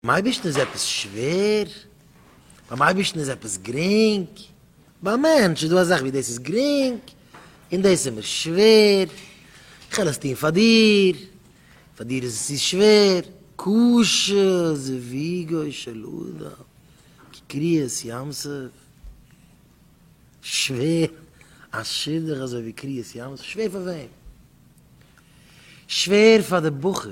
ביים אייבערשטן איז עפעס שווער? ביים אייבערשטן איז עפעס גרינג? ביים מענטש איז דא אזאך ווי דאס איז גרינג און דאס איז מיר שווער, איך וועל עס טון פאר דיר, פאר דיר איז עס צו שווער, קשה זוויגו של אדם כקריעת ים סוף, שווער א שידוך אזוי ווי קריעת ים סוף, שווער פאר וועם? שווער פאר די בחור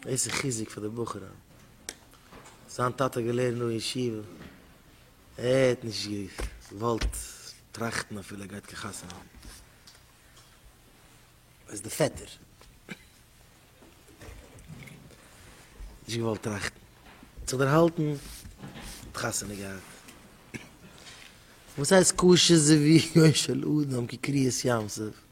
דאס איז חיזוק פאר די בחורים. זיין טאטע האט געלערנט דא אין ישיבה, ער האט נישט געוואלט טראכטן אפילו ער גייט קיין חתונה האבן. ער איז די פעטער. נישט געוואלט טראכטן. האט זיך דערהאלטן, האט חתונה געהאט. וואס הייסט קשה זיווג יום של אדם כקריעת ים סוף?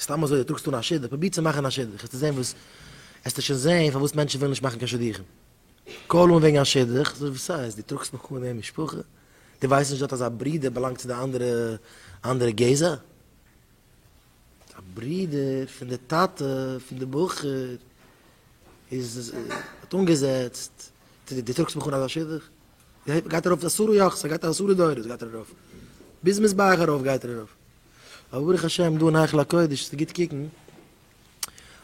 סתם אזוי טראגסטו אן א שידוך, פרוביר צו מאכן א שידוך, העסטו זען וואס, העסטו שוין זען פארוואס מענטשן ווילן נישט מאכן קיין שידוכים. קאל אן וועגן א שידוך, זאג וואס סאיז, דו טראגסט נאך אן אין משפחה? דו ווייסט נישט דארט אז א ברודער באלאנגט צו די אנדערע אנדערע גזע? א ברודער פון די טאטע פון די בחור איז האט אנגעזעצט, דו טראגסט מיך אן אזא שידוך? גייט גייט ער ארויף עשרה יאכס ער גייט עשרה דורות גייט ער ארויף ביז מזבח ארויף גייט ער ארויף אבער ברוך השם דא אין היכל הקודש איז גוט קוקן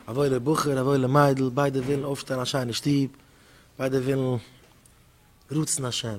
א וואוילער בחור א וואוילע מיידל ביידע ווילן אויפשטעלן א שיינע שטוב ביידע ווילן רצון השם.